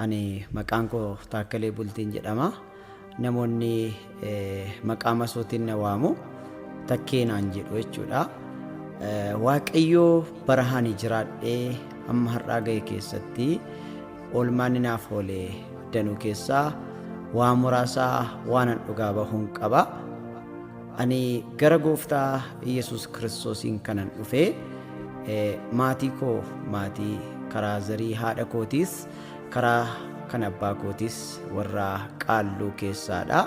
Ani maqaan koo Taakkalee Bultiin jedhama. Namoonni eh, maqaa masootiin na waamu takkee naan jedhu jechuudha. Eh, Waaqayyoo bara ani jiraadhee amma har'aa ga'e keessatti oolmaan naaf oole danuu keessaa waa muraasaa waanan dhugaa bahuun qaba. Ani gara gooftaa Iyyasuus Kiristoosiin kanan dhufe, maatii koo maatii karaa zarii haadha kootiis, karaa kan abbaa kootiis warra qaalluu keessaadha.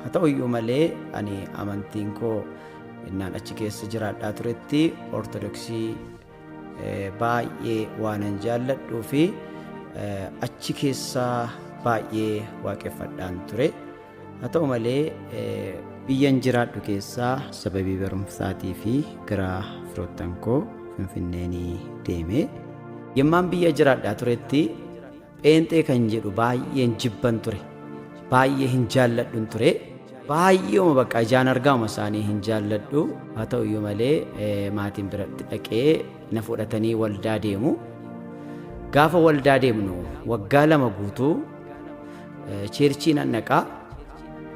Haa ta'u iyyuu malee ani amantiin koo innaan achi keessa jiraadhaa turetti Ortodoksii baay'ee waanan jaalladhuu fi achi keessaa baay'ee waaqeffadhaan ture haa ta'u malee biyyan jiraadhu keessaa sababii barumsaatii fi gara firoottan koo finfinneenii deeme yemmaan biyya jiraadhaa turetti Pheenxee kan jedhu baay'een jibban ture. Baay'ee hin jaalladhun ture. Baay'eema bakka ijaan argaama isaanii hin jaalladhu. Haa ta'u iyyuu malee maatiin biratti dhaqee na fudhatanii waldaa deemu. Gaafa waldaa deemnu waggaa lama guutuu cheerchii nan dhaqaa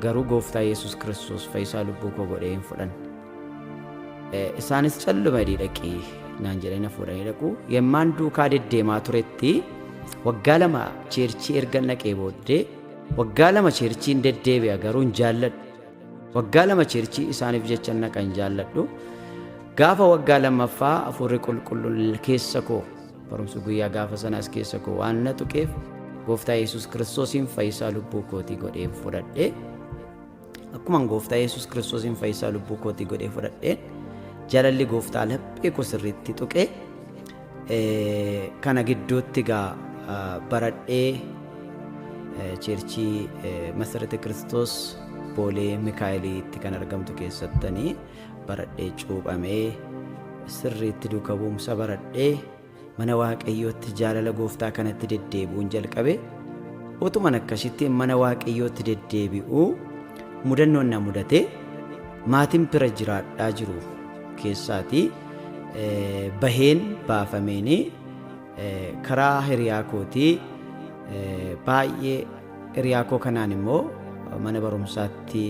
garuu gooftaa Yesuus Kiristoos fayyisaa lubbuu koo godhee hin fudhanne. Isaanis calluma hidhii dhaqi naan jedhanii na fuudhanii dhaqu. Yemmaan duukaa deddeemaa turetti waggaa lama cheerchii erga naqee booddee waggaa lama cheerchiin deddeebi'a garuu hin jaalladhu. Waggaa lama cheerchii isaaniif jecha naqa hin jaalladhu. Gaafa waggaa lammaffaa hafuurri qulqulluun keessa koo barumsa guyyaa gaafa sanaas keessa koo waan na tuqeef gooftaa Yesuus kiristoosiin fayyisaa lubbuu kootii godheen fudhadhe. Akkuman gooftaa Yesuus Kiristoosiin fayyisaa lubbuu kootii godhee fudhadheen jalalli gooftaa laphee koo sirriitti tuqee eh, kana gidduutti gaa ah, baradhee eh, cheerchii eh, Masarate Kiristoos Boolee Mikaa'eliitti kan argamtu keessattanii baradhee cuuphamee sirriitti duuka bu'umsa baradhee Mana Waaqayyootti jaalala gooftaa kanatti deddeebi'uun jalqabe. Utuman akkasitti mana Waaqayyootti deddeebi'u mudannoon na mudate maatiin bira jiraadhaa jiru keessaati baheen baafameen karaa hiriyaa kootii baay'ee hiriyaa koo kanaan immoo mana barumsaatti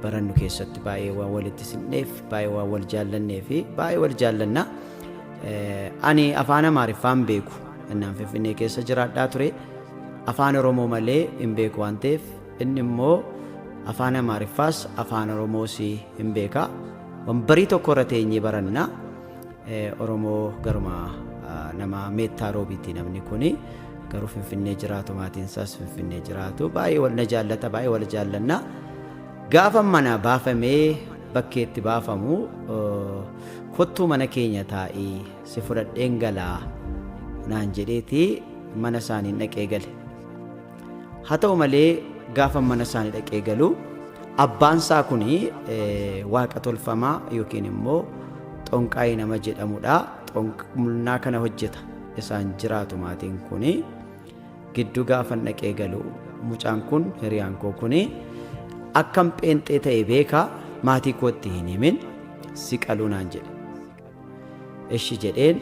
barannu keessatti baay'ee waan walitti sinneef baay'ee waan wal jaallannee fi baay'ee wal jaallanna. Ani afaan Amaariffaan beeku innaan Finfinnee keessa jiraadhaa ture afaan Oromoo malee hin beeku waan ta'eef inni immoo afaan Amaariffaas afaan Oromoos hin beeka. Wambarii tokko irra teenyee baranna. Oromoo garuma nama meettaa roobiiti namni kuni garuu finfinnee jiraatu maatiin isaas finfinnee jiraatu baay'ee wal na jaallata baay'ee wal jaallanna gaafa mana baafamee bakkee itti baafamu kottuu mana keenya taa'ii si fudhadheen galaa naan jedheeti mana isaaniin dhaqee gale. Haa ta'u malee gaafa mana isaanii dhaqee galu abbaan isaa kun waaqa tolfamaa yookiin immoo xonqaa'ii nama jedhamudha. Xonqaa kana hojjeta isaan jiraatu maatiin kun gidduu gaafa dhaqee galu mucaan kun hiriyaan koo kun akkam pheenxee ta'e beeka maatii kootti hin himin si qaluu naan jedhe. Eshi jedheen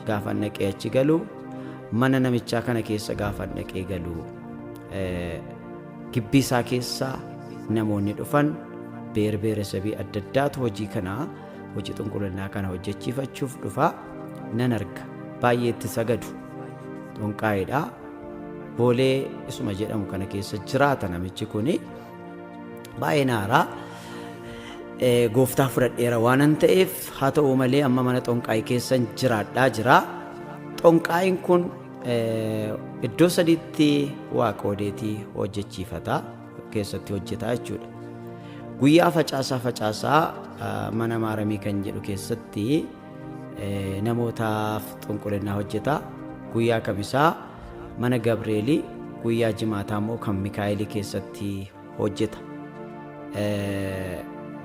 gaafan dhaqee achi galu mana namichaa kana keessa gaafan dhaqee galu gibbii isaa keessa namoonni dhufan beer beeresabii adda addaatu hojii kana hojii xunqulinnaa kana hojjechiifachuuf dhufa nan arga baay'ee itti sagadu xunqaa'eedha boolee isuma jedhamu kana keessa jiraata namichi kuni Baay'ee naaraa gooftaa fudhadheera waanan ta'eef haa ta'u malee amma mana xonqaa'ii keessan jiraadhaa jira. Xonqaa'iin kun iddoo sadiitti waa qoodeetii hojjechiifata keessatti hojjetaa jechuudha. Guyyaa facaasaa facaasaa mana maaramii kan jedhu keessatti namootaaf xunqulinnaa hojjeta guyyaa kamisaa mana gabreelii guyyaa jimaataa immoo kan mikaa'elii keessatti hojjeta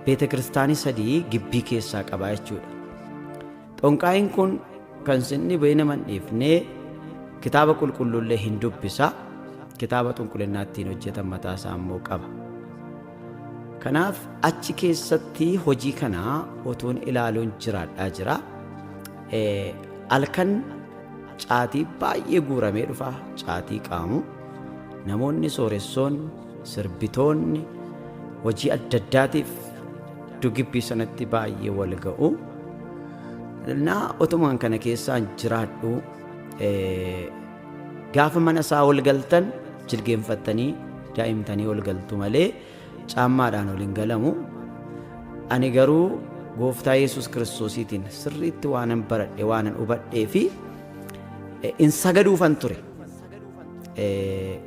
beeta kiristaanii sadii gibbii keessaa qabaa jechuudha xonqaa'iin kun kan sinni ba'ee nama hin dhiifne kitaaba qulqulluullee hin dubbisa kitaaba xunqulinnaa ittiin hojjetan mataa isaa immoo qaba Kanaaf achi keessatti hojii kana otuun ilaaluun jiraadhaa jira. Halkan caatii baay'ee guuramee dhufa caatii qaamu. Namoonni sooressoon sirbitoonni hojii adda addaatiif dugibbii sanatti baay'ee wal ga'u. Naa otumaan kana keessaan jiraadhu Gaafa mana isaa ol galtan jilgeenfattanii daa'imtanii ol galtu malee caammaadhaan ol hin galamu. Ani garuu gooftaa Yesuus Kiristoosiitiin sirriitti waanan baradhe waanan hubadhee fi in sagaduufan ture.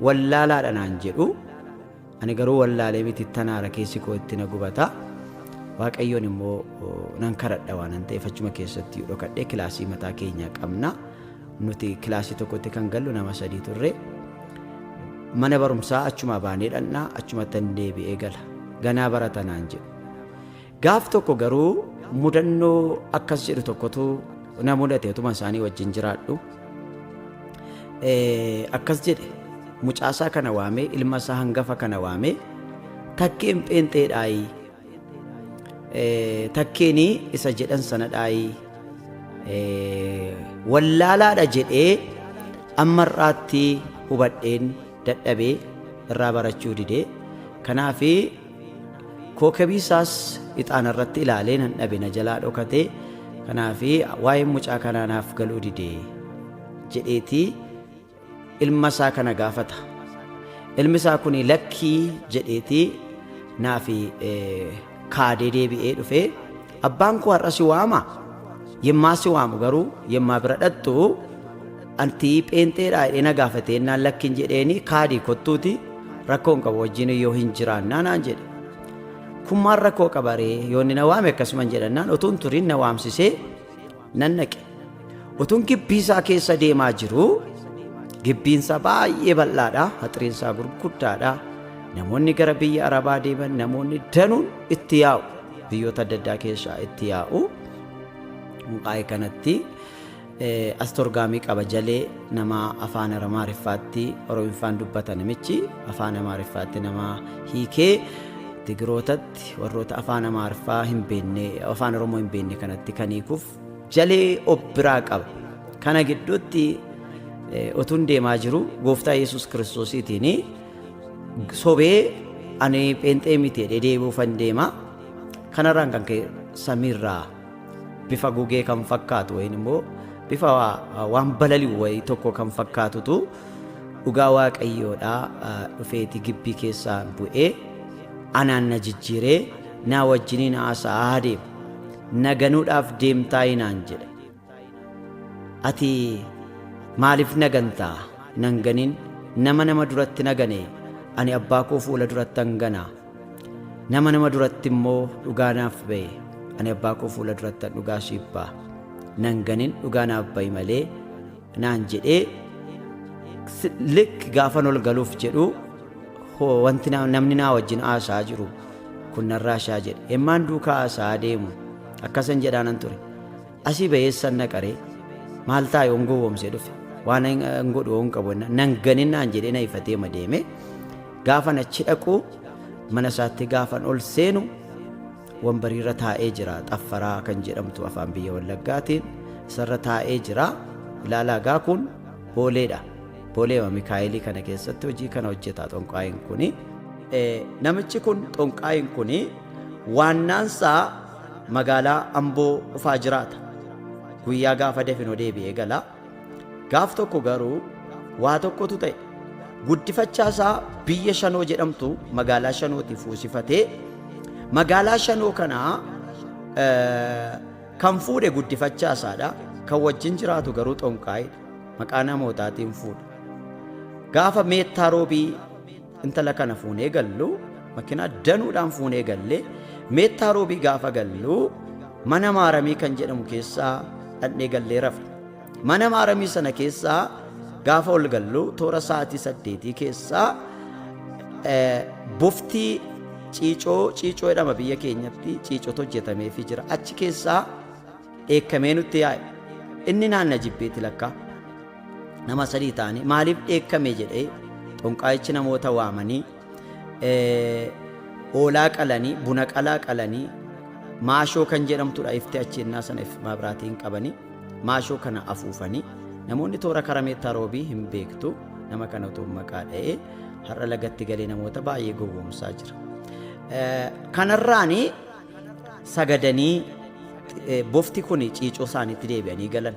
Wallaalaadha naan jedhu. Ani garuu wallaalee miti tanaara keessi koo itti na gubata. Waaqayyoon immoo nan kadhadha waanan ta'eef achuma keessatti yoo dhokadhee kilaasii mataa keenyaa qabna. Nuti kilaasii tokkotti kan gallu nama sadii turre. Mana barumsaa achumaa baanee dhaqna achumatti hin deebi'ee gala. Ganaa baratanaan jedhu. Gaaf tokko garuu mudannoo akkas jedhu tokkotu na mudate utuma isaanii wajjin jiraadhu. Eh, Akkas jedhe mucaasaa kana waamee ilma isaa hangafa kana waamee takkeen pheenxeedhaayi. Eh, Takkeenii isa jedhan sanadhaayi. Eh, Wallaalaadha jedhee amma irraatti hubadheen dadhabee irraa barachuu didee kanaafi Kookabii isaas ixaana irratti ilaalee nan dhabe na jalaa dhokatee kanaaf waa'een mucaa kanaa naaf galuu dide jedheetii ilma isaa kana gaafata. Ilmi isaa kun lakkii jedheetii naaf kaadee deebi'ee dhufee Abbaan koo har'a si waama. Yemmaa si waamu garuu yemmaa bira dhaqxu anti pheenxeedhaa jedhee na gaafatee naan lakkin jedheeni kaadii kottuuti rakkoon qabu wajjin yoo hin jiraannaa naan jedhe. Kun maal rakkoo qabaree yoo inni na waame akkasuman jedhannaan otuun turiin na waamsisee nan dhaqe. Utuun gibbii isaa keessa deemaa jiruu gibbiin isaa baay'ee bal'aadha, haxriin isaa gurguddaadha. Namoonni gara biyya Arabaa deeman namoonni danuun itti yaa'u. Biyyoota adda addaa keessaa itti yaa'u. Mukaa'ee kanatti eh, astorgaamii qaba jalee nama afaan Amaariffaatti Oromiffaan dubbata namichi afaan Amaariffaatti nama hiikee Tigirootatti warroota afaan amaarffaa hin beenne afaan oromoo hin beenne kanatti kan hiikuuf jalee of biraa qaba kana gidduutti otuun deemaa jiru gooftaa yesus kiristoosiitiin sobee ani pheenxee miti jedhee deebi'uufan deema kanarraan kan ka'e samiirraa bifa gugee kan fakkaatu wayin immoo bifa waan balali'u wayi tokko kan fakkaatutu dhugaa waaqayyoodhaa dhufeeti gibbii keessaan bu'ee Anaan na jijjiiree naa wajjiniin haasa'aa adeema. Na ganuudhaaf deemtaayii naan jedhe. Ati maaliif na gantaa? Nan ganin nama nama duratti na gane ani abbaa koo fuula durattan gana. Nama nama duratti immoo dhugaa naaf ba'e ani abbaa koo fuula durattan dhugaa siif ba'a. Nan ganin dhugaa naaf ba'i malee naan jedhee s- lik gaafan ol galuuf jedhu hoo wanti na- namni naa wajjin haasaa jiru kun narraa shaa jedhe hemmaan duukaa haasaa deemu akkasan jedhaanan ture asii bayeessan naqaree maal taa yoon gowwoomsee dhufe waan hin hin godhu yoon qabu jennaan, nan ganin naan jedhee na ifatee ma deeme gaafan achi dhaqu mana isaatti gaafan ol seenu Wanbariirra taa'ee jira xaffaraa kan jedhamtu afaan biyya wallaggaatiin isarra taa'ee jira ilaalaa gaa kun booleedha booleema mikaa'elii kana keessatti hojii kana hojjetaa xonqaayin kuni namichi kun xonqaayin kuni waannaansaa magaalaa amboo dhufaa jiraata guyyaa gaafa definoo deebi'ee gala Gaaf tokko garuu waa tokkotu ta'e. Guddifachaa isaa biyya Shanoo jedhamtu magaalaa Shanooti fuusifatee magaalaa Shanoo kanaa kan fuudhe guddifachaa isaadha. Kan wajjin jiraatu garuu xonqaayidha. Maqaa namootaatiin fuudha. Gaafa meettaa roobii Intala kana fuunee gallu makinaa danuudhaan fuunee gallee meettaa roobii gaafa gallu mana maaramii kan jedhamu keessaa dhadhee gallee rafe. Mana maaramii sana keessaa gaafa ol gallu toora sa'aatii saddeetii keessaa boftii ciicoo ciicoo jedhama biyya keenyatti ciicotu hojjetameefii jira. Achi keessaa dheekkamee nutti yaa'e. Inni naanna jibbeeti lakkaa. nama sadii ta'anii maaliif dheekkame jedhee xonqaayichi namoota waamanii hoolaa qalanii buna qalaa qalanii maashoo kan jedhamtudha ifti achi innaa sana if maabiraatiin qabanii maashoo kana afuufanii namoonni toora karameettaa roobii hin beektu nama kana otoo maqaa dha'ee har'a lagatti galee namoota baay'ee gowwoomsaa jira. Kanarraani sagadanii bofti kun ciicoo isaaniitti deebi'anii galan.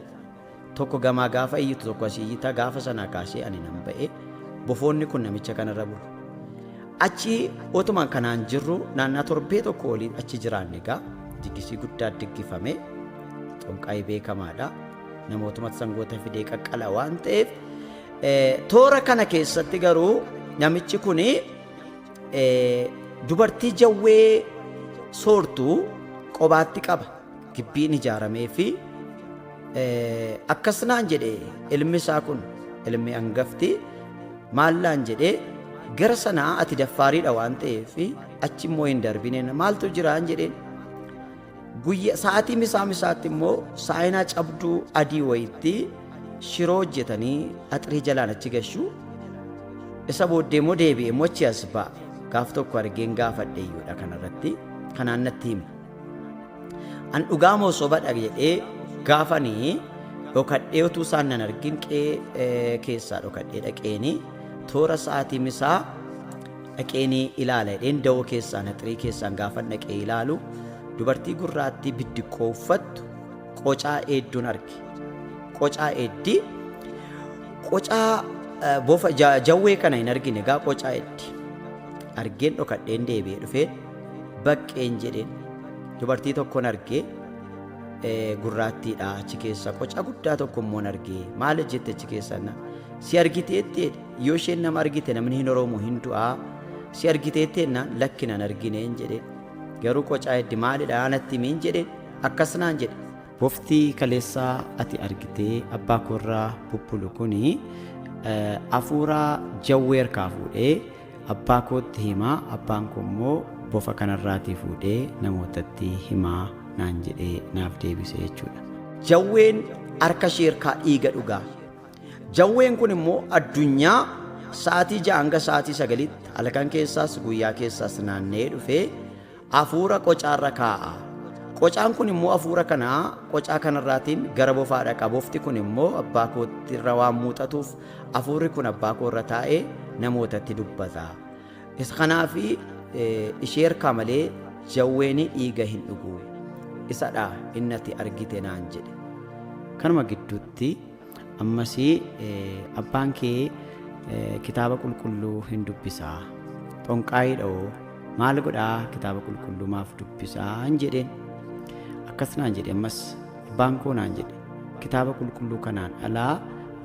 Tokko gamaa gaafa iyyitu tokko asii iyyita gaafa sanaa kaasee ani nan ba'e bofoonni kun namicha kanarra bulu. Achi otumaan kanaan jirru naannaa torbee tokko oliin achi jiraanne egaa diggisii guddaa diggifame xonqaa'ii beekamaadha. Namootumatti sangoota fidee qaqqala waan ta'eef toora kana keessatti garuu namichi kun dubartii jawwee soortu qobaatti qaba. gibbiin ijaaramee fi akkas naan jedhe ilmi isaa kun ilmi angafti maal naan jedhe gara sanaa ati daffaariidha waan ta'eef achi immoo hin darbine maaltu jiraan jedheen guyya sa'aatii misaa misaatti immoo saayinaa cabduu adii wayitti shiroo hojjetanii axrii jalaan achi gashu isa booddee immoo deebi'e immoo achi as ba'a gaaf tokko argeen gaafadhe iyyuudha kanarratti kanaan natti hime. An dhugaa moo soba dhabe jedhee gaafani dhokadhee utuu isaan nan argin qe'ee keessaa dhokadhee dhaqeeni toora sa'aatii misaa dhaqeeni ilaala jedheen dawoo keessaan haxirii keessaan gaafan dhaqee ilaalu dubartii gurraattii biddiqqoo uffattu qocaa eedduun arge. Qocaa eeddii qocaa eh, bofa ja- jawwee kana hin argine gaa qocaa eeddi argeen dhokadheen deebi'ee dhufee baqqeen jedheen dubartii tokkon argee gurraattiidha achi keessa qoca guddaa tokko immoo argee maal jette achi keessa na si argiteetti yoo isheen nama argite namni hin oroomu hin du'aa si argiteetti na lakki nan argineen jedhe garuu qocaa heddi maalidha anatti miin jedhe akkas naan jedhe boftii kaleessaa ati argitee abbaa koorraa bubbulu kuni afuuraa jawweerkaa fuudhee Abbaa kootti himaa, abbaan koo immoo bofa kanarraatii fuudhee namootatti himaa naan jedhee naaf deebise jechuudha. Jawween harka ishee irkaa dhiiga dhugaa. Jawween kun immoo addunyaa sa'aatii ja'a hanga sa'aatii sagalitti halkan keessaas guyyaa keessaas naanna'ee dhufee Afuura qocaarra kaa'a. Qocaan kun immoo afuura kana qocaa kanarraatiin gara bofaa dhaqa. Bofti kun immoo abbaa kootti irra waan muuxatuuf afuurri kun abbaa koo irra taa'ee namootatti dubbata. Isa kanaaf ishee harkaa malee jawween dhiiga hin dhugu. Isadha inni ati argite naan jedhe. Kanuma gidduutti Ammas abbaan kee kitaaba qulqulluu hin dubbisaa xonqaayiidha'oo maal godhaa kitaaba qulqulluu maaf dubbisaa hin jedheen akkas naan jedhe ammas abbaan koo naan jedhe kitaaba qulqulluu kanaan alaa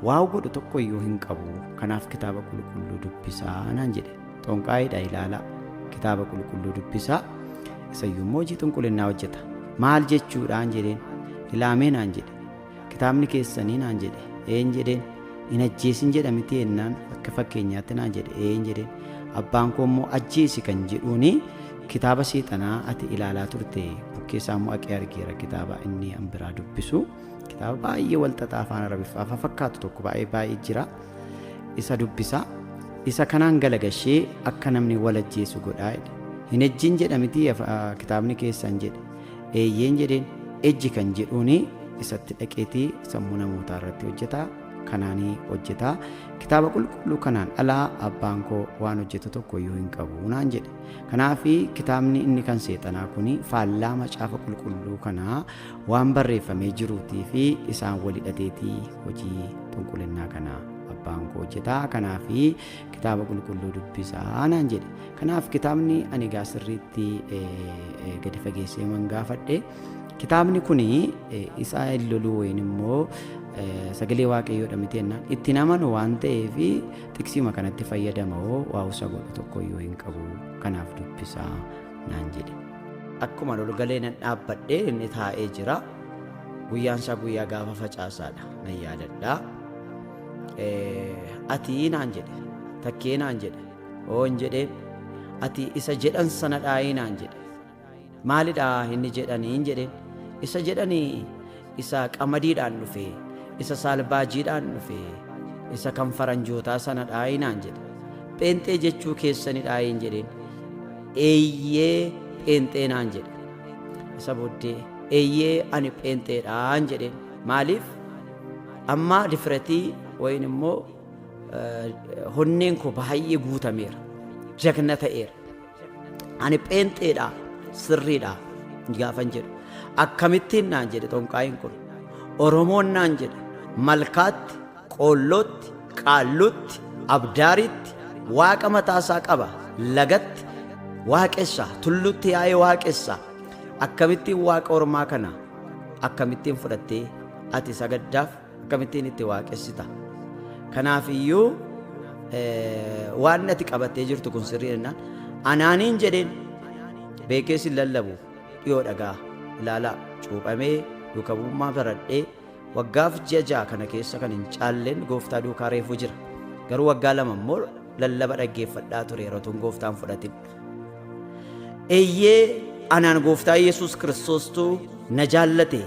waa godhu tokko iyyuu hin qabu kanaaf kitaaba qulqulluu dubbisaa naan jedhe xonqaayiidha ilaalaa kitaaba qulqulluu dubbisaa isayyuu immoo hojii xunqulinnaa hojjeta maal jechuudhaan jedheen ilaamee naan jedhe Kitaabni keessanii naan jedhe. Een jedheen. Hin ajjeesin jedha miti ennaan akka fakkeenyaatti naan jedhe. Een jedheen. Abbaan koo immoo ajjeesi kan jedhuuni kitaaba seexanaa ati ilaalaa turte bukkee isaa immoo aqee argeera kitaaba inni an biraa dubbisu kitaaba baay'ee walxaxaa afaan arabiffaa fa fakkaatu tokko baay'ee baay'ee jira isa dubbisa isa kanaan galagashee akka namni wal ajjeesu godhaa jedhe. Hin ejjin jedha miti afa- kitaabni keessan jedhe. Eeyyeen jedheen. Ejji kan jedhuun isatti dhaqeetii sammuu namootaa irratti hojjetaa kanaanii hojjetaa kitaaba qulqulluu kanaan alaa abbaan koo waan hojjetu tokko iyyuu hin qabu naan jedhe kanaaf kitaabni inni kan seexanaa kun faallaa macaafa qulqulluu kanaa waan barreeffamee jiruutii fi isaan walidhateetii hojii xunqulinnaa kanaa abbaan koo hojjetaa kanaaf Kitaaba qulqulluu dubbisaa naan jedhe. Kanaaf kitaabni ani egaa sirriitti gadi fageessee man gaafadhe. Kitaabni kun isaa hin loluu wayin immoo sagalee waaqayyoodha miti jennaan itti namanu waan ta'eef xiqsiima kanatti fayyadama hoo waa'usa godhu tokko iyyuu hin qabu kanaaf dubbisaa naan jedhe. Akkuma lolgalee nan dhaabbadhe inni taa'ee jira. Guyyaan isaa guyyaa gaafa facaasaadha nan yaadadha. Ati naan jedhe takkee naan jedhe oon jedhee ati isa jedhan sana dhaayii naan jedhe maalidhaa inni jedhaniin jedheen isa jedhanii isa qamadiidhaan dhufee isa saalbaajiidhaan dhufee isa kan faranjootaa sana dhaayii naan jedhe pheenxee jechuu keessani dhaayiin jedheen eeyyee pheenxee naan jedhe isa booddee eeyyee ani pheenxeedhaan jedheen maaliif Amma difiratii wayin immoo honneen koo baay'ee guutameera. Jagna ta'eera. Ani pheenxeedha sirriidha gaafan jedhu. Akkamittiin naan jedhe xonqaayin kun. Oromoon naan jedhe malkaatti, qoollootti, qaalluutti, abdaariitti waaqa mataasaa qaba lagatti waaqessa tullutti yaa'ee waaqessa akkamittiin waaqa ormaa kana akkamittiin fudhattee Ati sagaddaaf akkamittiin itti waaqessita? Kanaaf iyyuu waan ati qabattee jirtu kun sirrii jennaan anaaniin jedheen beekee sin lallabu dhiyoo dhagaa ilaalaa cuuphamee duuka bu'ummaa baradhee waggaaf ji'a ja'a kana keessa kan hin caalleen gooftaa duukaa reefuu jira garuu waggaa lama immoo lallaba dhaggeeffadhaa ture yeroo tun gooftaan fudhatin Eeyyee anaan gooftaa Yesuus Kiristoostu na jaallate,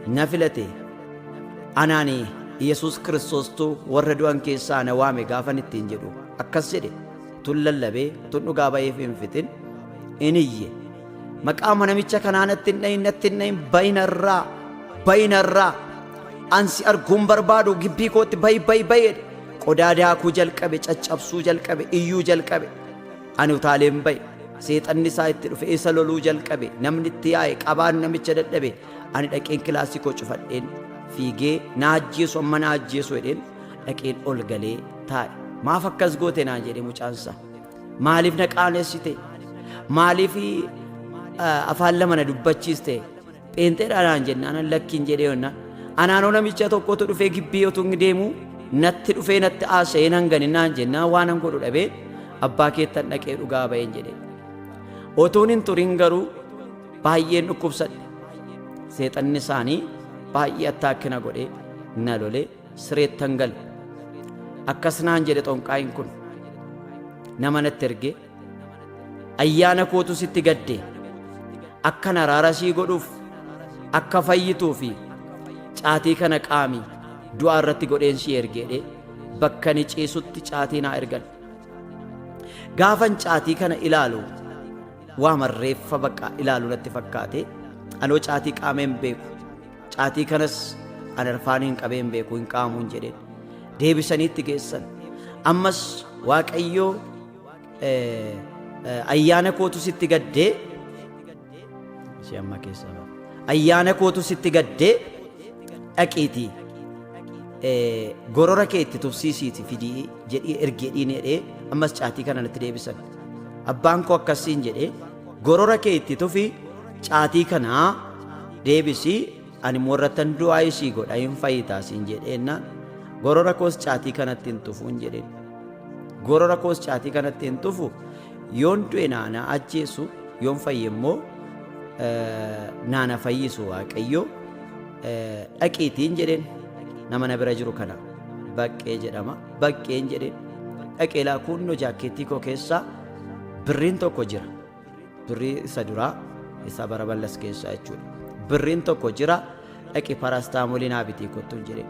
na filate. Anaan Yesuus Kiristoostu warra du'an keessaa na waame gaafan ittiin jedhu akkas jedhe tun lallabee tun dhugaa ba'eef hin fixin in iyye. Maqaa manamicha kanaa natti hin dhayin natti hin dhayin bayinarraa bayinarraa ansi arguun barbaadu gibbii kootti bayi bayi bayeedha. Qodaa daakuu jalqabe caccabsuu jalqabe iyyuu jalqabe. Ani utaaleen ba'e. Seexanni isaa itti dhufe. Isa loluu jalqabe. Namni itti yaa'e. Qabaan namicha dadhabe. Ani dhaqeen kilaasii koo cufadheen fiigee na ajjeesu amma na ajjeesu jedheen dhaqeen ol galee taa'e. Maaf akkas goote naan jedhe mucaan isaa. Maaliif na qaanessite? Maaliif afaan lama na dubbachiiste? Pheenxeedha naan jennaanan lakkiin jedhee honna. Anaanoo namicha tokkotu dhufee gibbii otuu inni deemu natti dhufee natti haasa'ee nan gane naan jennaa waanan godhu dhabee abbaa keettan dhaqee dhugaa ba'een jedhe. Otuun hin turin garuu baay'een dhukkubsadhe. Seexanni isaanii baay'ee attaakkina godhee na lolee sireettan gale. Akkas naan jedhe xonqaayin kun. Nama natti ergee Ayyaana kootu sitti gadde. Akkan araara sii godhuuf, akka fayyituu fi caatii kana qaami du'aa irratti godheen sii ergeedhe bakka ni ciisutti caatii naa ergan. Gaafan caatii kana ilaalu waa marreeffa bakka ilaalu natti fakkaate anoo caatii qaameen beeku caatii kanas an arfaaniin qabeen beeku hin qaamuun jedheen deebisanii itti geessan ammas waaqayyoo ayyaana kootu sitti gaddee ishee ammaa keessaa ba'a. ayyaana kootu sitti gaddee dhaqiitii eh, gorora kee itti tufsiisiiti fidii jedhii ergi jedhiin jedhee ammas caatii kana natti deebisan abbaan koo akkasiin jedhee gorora kee itti tufi caatii kanaa deebisii Ani immoo irrattan du'aa'ii sii godha hin fayyitaa siin jedheennaan gorora koos caatii kanatti hin tufu hin jedheen. Gorora koos caatii kanatti hin tufu yoon du'e naana ajjeesu yoon fayye immoo naana fayyisu waaqayyoo dhaqiitiin jedheen nama na bira jiru kana baqqee jedhama baqqeen jedheen dhaqee laakuunnoo jaakkeettii koo keessaa birriin tokko jira. birrii isa duraa isa bara ballas keessaa jechuudha birriin tokko jira dhaqi paraastaamoolii naa bitii kottuun jedhe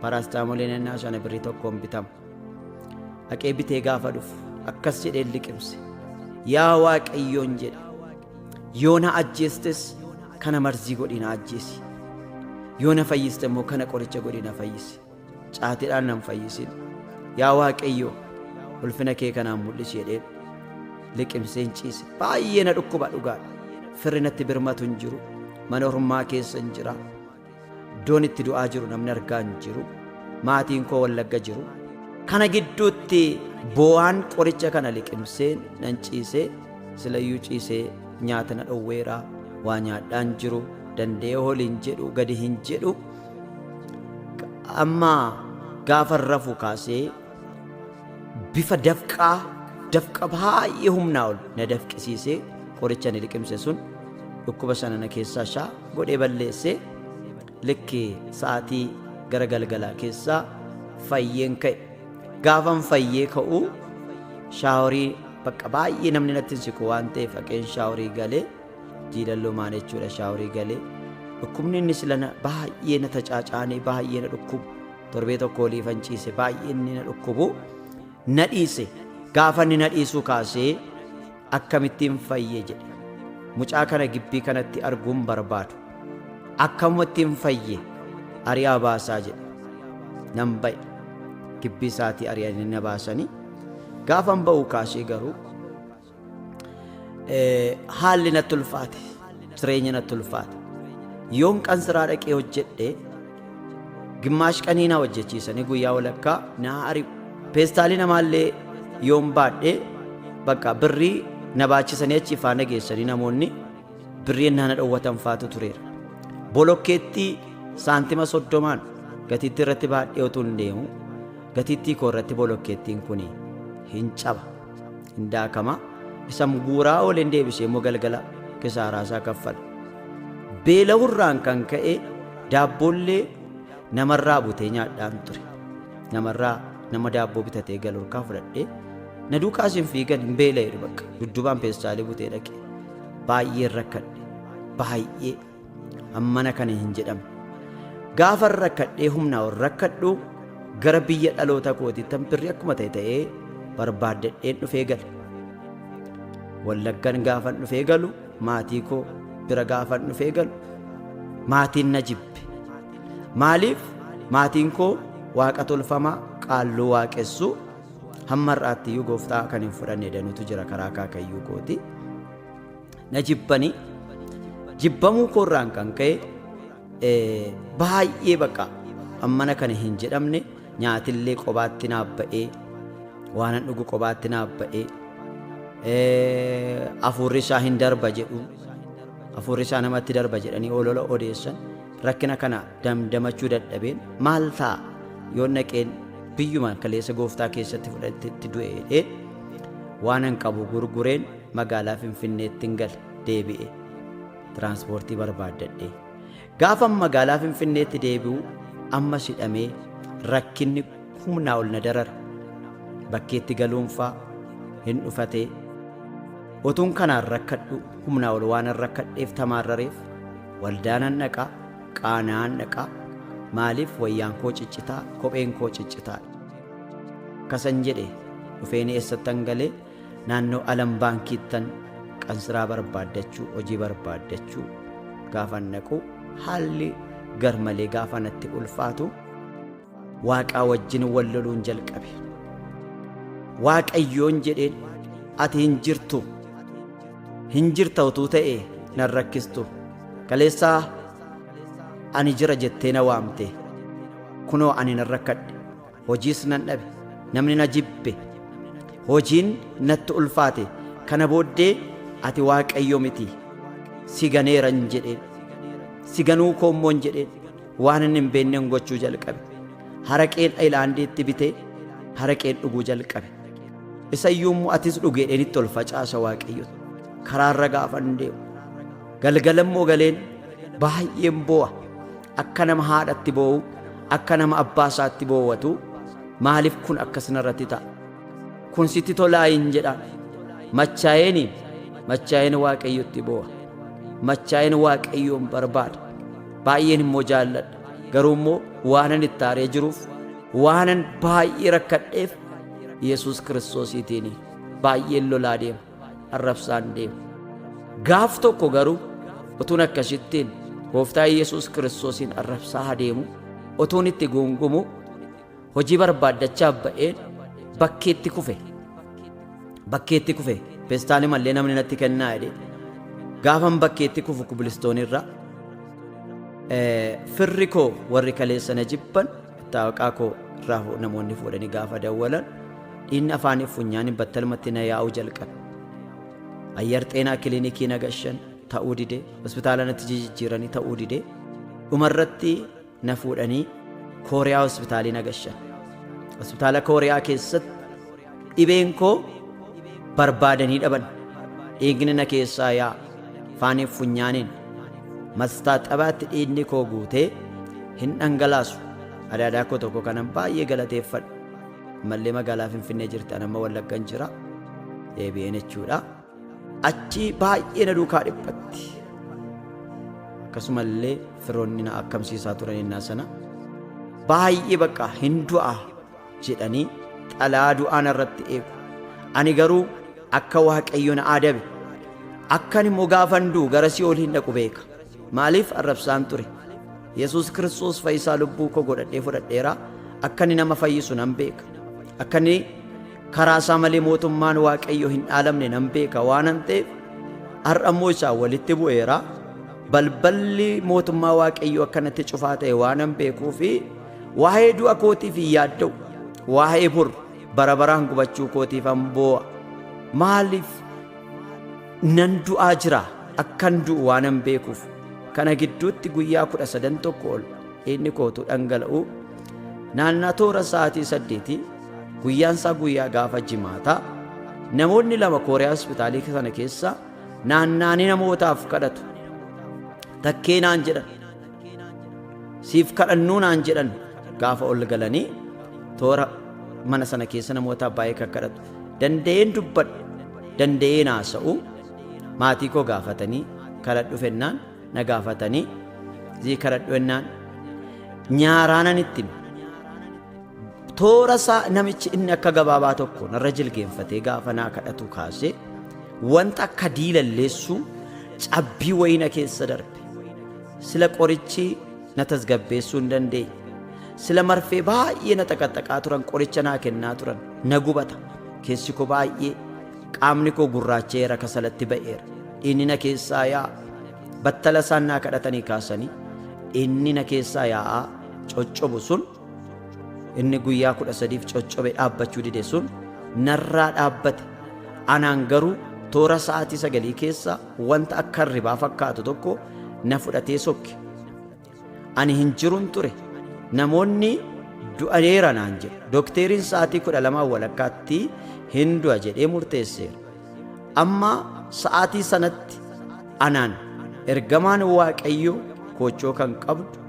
paraastaamooliin ennaa sana birrii tokkoon bitama dhaqee bitee gaafa dhufu akkas jedhee liqimse yaa waaqayyoon jedhe yoo na ajjeestes kana marzii godhii na ajjeesi yoo na fayyiste immoo kana qoricha godhii na fayyisi Caatiidhaan nan fayyisin. Yaa Waaqayyo, ulfina kee kanaan mul'isi jedheen. Liqimseen ciise. Baay'ee na dhukkuba dhugaadha. Firri natti birmatu hin jiru. Mana ormaa keessa hin jira. Iddoon itti du'aa jiru namni argaa hin jiru. Maatiin koo wallagga jiru. Kana gidduutti boo'aan qoricha kana liqimsee nan ciisee silayyuu ciisee nyaata na dhowweera waa nyaadhaan jiru danda'ee holiin jedhu gadi hin jedhu Amma gaafa rafu kaasee bifa dafqaa dafqa baay'ee humnaa ol na dafqisiisee qoricha ni liqimse sun dhukkuba sana na keessaa shaa godhee balleessee likki sa'aatii gara galgalaa keessaa fayyeen ka'e. Gaafan fayyee ka'uu shaaworii bakka baay'ee namni natti hin siqu waan ta'eef haqeen shaaworii galee Diilalloo maal jechuudha shaaworii galee dhukkubni inni silana baay'ee na tacaacaanee baay'ee na dhukkubu torbee tokko olii fanciise baay'ee inni na dhukkubu na dhiise gaafa inni na dhiisuu kaasee akkamittiin fayye jedhe mucaa kana gibbii kanatti arguun barbaadu akkamittiin fayye ari'aa baasaa jedhe nan ba'e gibbii isaatii ari'anii na baasanii gaafan ba'uu kaasee garuu Haalli natti ulfaate, jireenyi natti ulfaate. Yoon qansiraa dhaqee hojjedhe gimmaash qanii na hojjechiisanii guyyaa walakkaa na ari'u. Peestaalii namaallee yoon baadhe bakka birrii na baachisanii achi faana geessanii namoonni birrii na dhowwatan faatu tureera. Bolokkeettii saantima soddomaan gatiittii irratti baadhee utuu hin deemu gatiittii koo irratti bolokkeettiin kun hin caba. hin daakama isa guuraa ooleen deebisee immoo galgala kisaaraa isaa kaffala beela'urraan kan ka'e daabboollee namarraa butee nyaadhaan ture namarraa nama daabboo bitatee galurkaa fudhadhee na duukaas hin fiigan hin beela'eedha bakka duddubaan peestaalee butee dhaqe baay'ee rakkadhe baay'ee Hammana kana hin jedhamu. Gaafan rakkadhee humnaa ol rakkadhu gara biyya dhaloota kootiittan birri akkuma ta'e ta'ee barbaaddadheen dhufee gale. Wallaggan gaafan dhufee galu maatii koo bira gaafan dhufee galu maatiin na jibbe. Maaliif maatiin koo waaqa tolfamaa qaalluu waaqessuu hamma har'aattiyyuu gooftaa kan hin fudhanne danuutu jira karaa akaakayyuu kooti. na jibbani jibbamuu koorraan kan ka'e eh, baay'ee baqa ammana kana hin jedhamne nyaatillee qobaatti naaf ba'ee waanan dhugu qobaatti naaf ba'ee eh, afuurri isaa hin darba jedhu afuurri isaa namatti darba jedhanii olola odeessan rakkina kana damdamachuu dadhabeen maal ta'a yoo naqeen biyyuma kaleessa gooftaa keessatti fudhatetti du'e jedhee waanan qabu gurgureen Magaalaa Finfinneettin gale deebi'e tiraansipoortii barbaaddadhee. Gaafan magaalaa Finfinneetti deebi'u ammas hidhamee rakkinni humnaa ol na darare. Bakkeetti galuunfaa hin dhufatee. Otuun kanaan rakkadhu humnaa ol waanan rakkadheef tamaarrareef waldaanan dhaqa, qaana'aan dhaqa, maaliif wayyaan koo ciccitaa, kopheen koo ciccitaadha. Akkasan jedhe dhufeeni eessattan galee? Naannoo Alam Baankiittan qansiraa barbaaddachuu, hojii barbaaddachuu gaafan dhaqu haalli garmalee gaafa natti ulfaatu Waaqaa wajjin wal loluun jalqabe. Waaqayyoon jedheen ati hin jirtu hin jirta utuu ta'e nan rakkistu kaleessaa ani jira jettee na waamte kunoo ani nan rakkadhe Hojiis nan dhabe. Namni na jibbe. Hojiin natti ulfaate. Kana booddee ati Waaqayyo miti. Si ganeeran jedheen. Si ganuu koo immoon jedheen. Waan inni hin beeknen gochuu jalqabe. Haraqeen ayilaandiitti bitee haraqeen dhuguu jalqabe. Isa iyyuu immoo atis dhugi jedheen itti ol facaasa Waaqayyotti. Karaarra gaafan deemu. Galgala immoo galeen baay'een boo'a. Akka nama haadhatti boo'u, akka nama abbaa isaatti boowwatu, maaliif kun akkas narratti ta'a? Kun sitti tolaa hin jedha. Machaa'een, machaa'een Waaqayyotti boo'a. Machaa'een Waaqayyoon barbaada. Baay'een immoo jaalladha. Garuu immoo waanan itti aaree jiruuf, waanan baay'ee rakkadheef Yesuus Kiristoosiitiin baay'een lolaa deema. arrabsaan deemu. Gaaf tokko garuu utuun akkasittiin gooftaa Yesuus Kiristoosiin arrabsaa adeemu utuun itti guungumu hojii barbaaddachaa ba'een bakkeetti kufe. Bakkeetti kufe pestaali mallee namni natti kennaa jedhee gaafan bakkeetti kufu kubilistoonirra firri koo warri kaleessa na jibban Xaaqaa koo irraa hoo namoonni fuudhanii gaafa dawwalan dhiinni afaaniif funyaaniin battalumatti na yaa'uu jalqabe. Ayyar xeenaa kiliinikii na gashan ta'uu dide hospitaala natti jijjiiranii ta'uu dide dhumarratti na fuudhanii kooriyaa hospitaalii na gashan. Hospitaala kooriyaa keessatti Dhibeen koo barbaadanii dhaban. Dhiigni na keessaa yaa faaniif funyaaniin. Mastaaxabaatti dhiigni koo guutee hin dhangalaasu. Adaadaa koo tokko kanan baay'ee galateeffadhu. Ammallee magaalaa Finfinnee jirtan amma Wallaggan jira. Deebi'een jechuudha. Achii baay'ee na duukaa dhiphatti. Akkasumallee firoonni na akkamsiisaa turan innaa sana. Baay'ee bakka hin du'a. jedhanii xalaa du'aa narratti eegu. Ani garuu akka Waaqayyo na adabe, akkan immoo gaafan du'u gara si'ool hin dhaqu beeka. Maaliif arrabsaan ture? Yesuus Kiristoos fayyisaa lubbuu koo godhadhee fudhadheera, akka inni nama fayyisu nan beeka. Akka inni karaa isaa malee mootummaan Waaqayyo hin dhaalamne nan beeka waanan ta'eef har'a immoo isaa walitti bu'eera. Balballi mootummaa Waaqayyoo akka natti cufaa ta'e waanan beekuu fi Waa'ee du'a kootiif hin yaadda'u, waa'ee bor bara baraan gubachuu kootiif an boo'a. Maaliif nan du'aa jira akkan du'u waan an beekuuf kana gidduutti guyyaa kudha sadan tokko ol dhiigni kootu dhangala'u naannaa toora sa'aatii saddeetii guyyaan isaa guyyaa gaafa jimaataa namoonni lama kooriyaa hospitaalii sana keessa naannaanii namootaaf kadhatu takkee naan jedhan siif kadhannuu naan jedhan gaafa ol galanii toora mana sana keessa namoota baay'ee kakkadhatu danda'een dubbadhu danda'een haasa'u maatii koo gaafatanii kadhadhu fennaan na gaafatanii zii kadhadhu fennaan nyaaraanan itti hime. toora isaa namichi inni akka gabaabaa tokko narra jilgeenfatee gaafa naa kadhatu kaasee wanta akka diilalleessuu cabbii wayina keessa darbe Sila qorichi na tasgabbeessuu hin dandeenye. Sila marfee baay'ee na xaqaxaqaa turan qoricha naa kennaa turan. Na gubata. Keessi koo baay'ee qaamni koo gurraacha'eera kasalatti ba'eera. Dhiinni na keessaa yaa'a. Battala isaan naa kadhatanii kaasanii dhiinni na keessaa yaa'aa coccobu sun inni guyyaa kudha sadiif coccobe dhaabbachuu dide sun narraa dhaabbate. Anaan garuu toora sa'aatii sagalii keessa Wanta akka hirribaa fakkaatu tokko na fudhatee sokke. Ani hin jirun ture. Namoonni du'aneera naan jedhu. Dokteeriin sa'aatii kudha lamaa walakkaatti hin du'a jedhee murteesseera. Amma sa'aatii sanatti anaan ergamaan Waaqayyo koochoo kan qabdu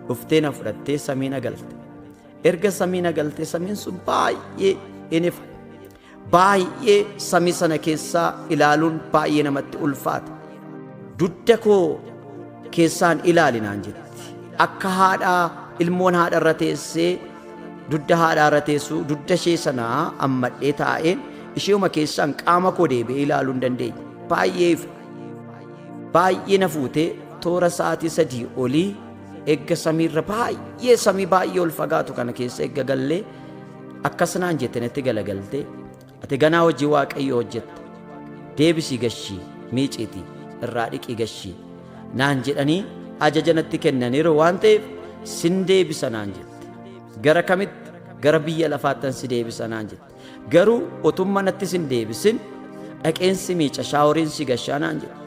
dhuftee na fudhattee samii na galte. Erga samii na galtee samiin sun baay'ee hin ifa. Baay'ee samii sana keessaa ilaaluun baay'ee namatti ulfaata. Dudda koo keessaan ilaali naan jetti. Akka haadhaa ilmoon haadha irra teessee dudda haadhaa irra teessu dudda ishee sanaa ammadhee taa'ee isheeuma keessaan qaama koo deebi'ee ilaaluu hin dandeenye. Baay'ee ifa. Baay'ee na fuutee toora sa'aatii sadii olii eegga samiirra baay'ee samii baay'ee ol fagaatu kana keessa eegga gallee Akkas naan jette natti galagaltee, ati ganaa hojii Waaqayyoo hojjetta. Deebisii gashii, miiciitii, irraa dhiqii gashii naan jedhanii ajaja natti kennaniiru waan ta'eef sin deebisa naan jette. Gara kamitti? Gara biyya lafaattan si deebisa naan jette. Garuu otumma natti sin deebisin dhaqeen si miica shaaworiin si gashaa naan jette.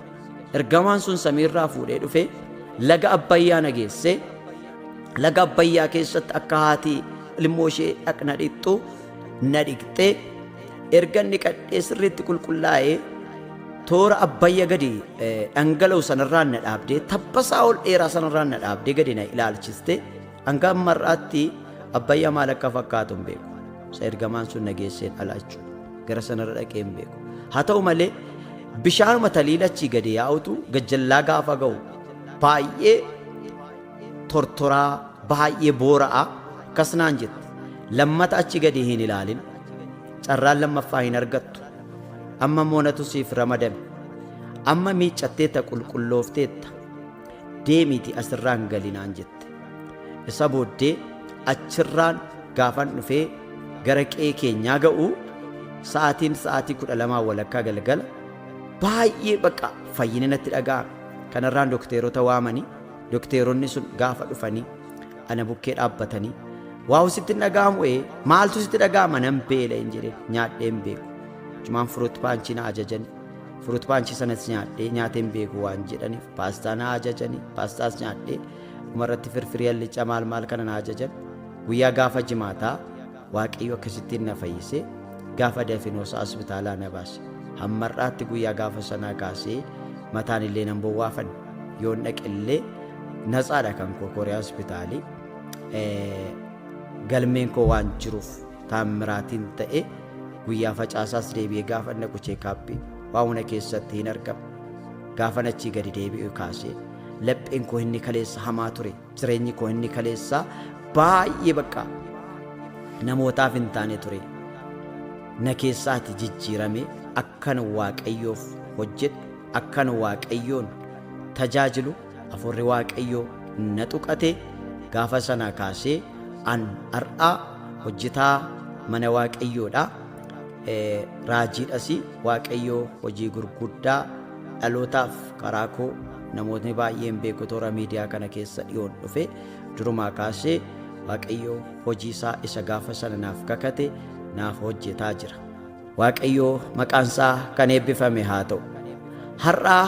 Ergamaan sun samiirraa fuudhee dhufee laga Abbayyaa na geessee Laga Abbayyaa keessatti akka haati ilmoo ishee dhaqna dhiqxu na dhiqxee erga inni qadhee sirriitti qulqullaa'ee toora abbayya gadi dhangala'u sanarraan na dhaabdee tabbasaa ol dheeraa sanarraan na dhaabdee gadi na ilaalchiste hanga ammarraatti abbayya maal akka fakkaatu hin beeku isa ergamaan sun na geesseen ala jechuudha gara sanarra dhaqee hin beeku haa ta'u malee bishaanuma taliilachii gadi yaa'utu gajjallaa gaafa ga'u baay'ee tortoraa baay'ee boora'aa akkas naan jette lammata achi gadi hin ilaalin carraan lammaffaa hin argattu amma moonatu siif ramadame amma miiccatteetta qulqulloofteetta deemiiti asirraan gali naan jette isa booddee achirraan gaafan dhufee gara qe'ee keenyaa ga'u sa'aatiin sa'aatii kudha lamaa walakkaa galgala baay'ee baqa fayyina natti dhaga'ame kanarraan dokteerota waamanii Dokteeronni sun gaafa dhufanii ana bukkee dhaabbatanii waawu sitti hin dhaga'amu ee maaltu sitti dhaga'ama nan beela hin jedhe nyaadhee hin beeku. Jumaan furuut paanchii na ajajani. Furuut paanchii sanas nyaadhee nyaatee hin beeku waan jedhaniif paastaa na ajajani. Paastaas nyaadhee dhumarratti firfirii hallichaa maal maal kana na ajajan. Guyyaa gaafa jimaataa Waaqayyo akkasittiin na fayyisee gaafa dafinoosaa hospitaalaa na baase. Hammar'aatti guyyaa gaafa sanaa kaasee mataan illee nan bowwaafan yoon dhaqe illee natsaadha kan koo koriyaa hospitaalii. Galmeen koo waan jiruuf taammiraatiin ta'e guyyaa facaasaas deebi'ee gaafa dhaqu cheekaappii waa hunda keessatti hin argamu. Gaafan achii gadi deebi'u kaasee lapheen koo inni kaleessa hamaa ture. Jireenyi koo inni kaleessaa baay'ee bakka namootaaf hin taane ture. Na keessaati jijjiirame akkan waaqayyoof hojjedhu akkan waaqayyoon tajaajilu hafuurri waaqayyoo na tuqate gaafa sanaa kaasee an har'aa hojjetaa mana waaqayyoodha. Raajiidhas waaqayyoo hojii gurguddaa Dhalootaaf karaa koo namootni baay'een beeku toora miidiyaa kana keessa dhiyoon dhufe durumaa kaasee Waaqayyoo hojii isaa isa gaafa sana naaf kakate naaf hojjetaa jira. Waaqayyoo maqaan isaa kan eebbifame haa ta'u. Har'aa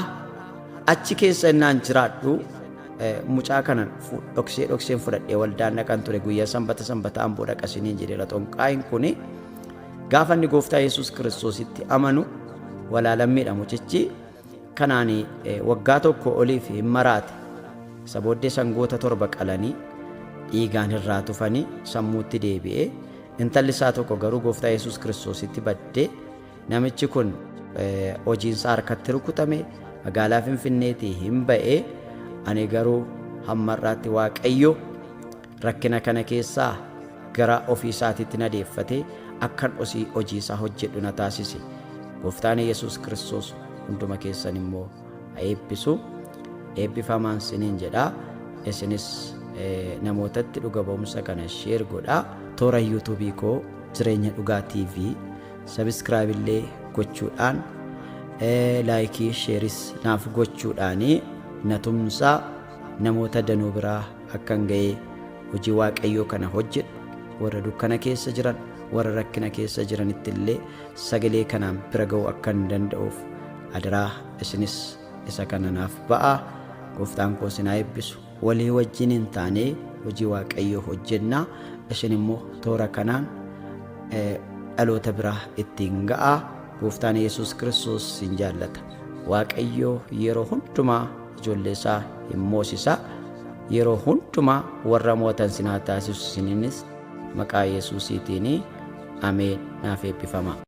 achi keessa innaan jiraadhu mucaa kana dhoksee dhokseen fudhadhee waldaan dhaqan ture guyyaa sanbata sanbata amboo dhaqasiniin jedheera xonqaayin kuni. Gaafa inni gooftaa Yesuus Kiristoositti amanu walaalammiidha mucichi kanaan waggaa tokko oliif hin maraate. Isa booddee sangoota torba qalanii dhiigaan irraa tufanii sammuutti deebi'ee intalli isaa tokko garuu gooftaa Yesuus Kiristoositti baddee namichi kun hojiinsaa harkatti rukutame magaalaa Finfinneetii hin ba'ee ani garuu hammarraatti waaqayyo Rakkina kana keessaa gara ofii isaatiitti na deeffatee akkan osii hojii isaa hojjedhu na taasise. Gooftaan Yesuus Kiristoos hunduma keessan immoo haa eebbisu. Eebbifamaan siniin jedha. Isinis namootatti dhuga ba'umsa kana sheer godha. Toora yuutuubii koo jireenya dhugaa TV sabiskiraayib illee gochuudhaan laayikii sheeris naaf gochuudhaan na tumsaa. namoota danuu biraa akkan ga'ee hojii waaqayyoo kana hojjedhu warra dukkana keessa jiran warra rakkina keessa jiranitti illee sagalee kanaan bira ga'uu akkan danda'uuf adaraa isinis isa kana naaf ba'aa gooftaan koo sinaa eebbisu walii wajjin hin taanee hojii waaqayyoo hojjennaa isin immoo toora kanaan dhaloota biraa ittiin ga'aa gooftaan yesus kiristoos sin jaallata waaqayyoo yeroo hundumaa ijoollee isaa hin moosisa. Yeroo hundumaa warra mootan sin haa taasisu isiniinis maqaa Yesuusiitiin ameen naaf eebbifamaa.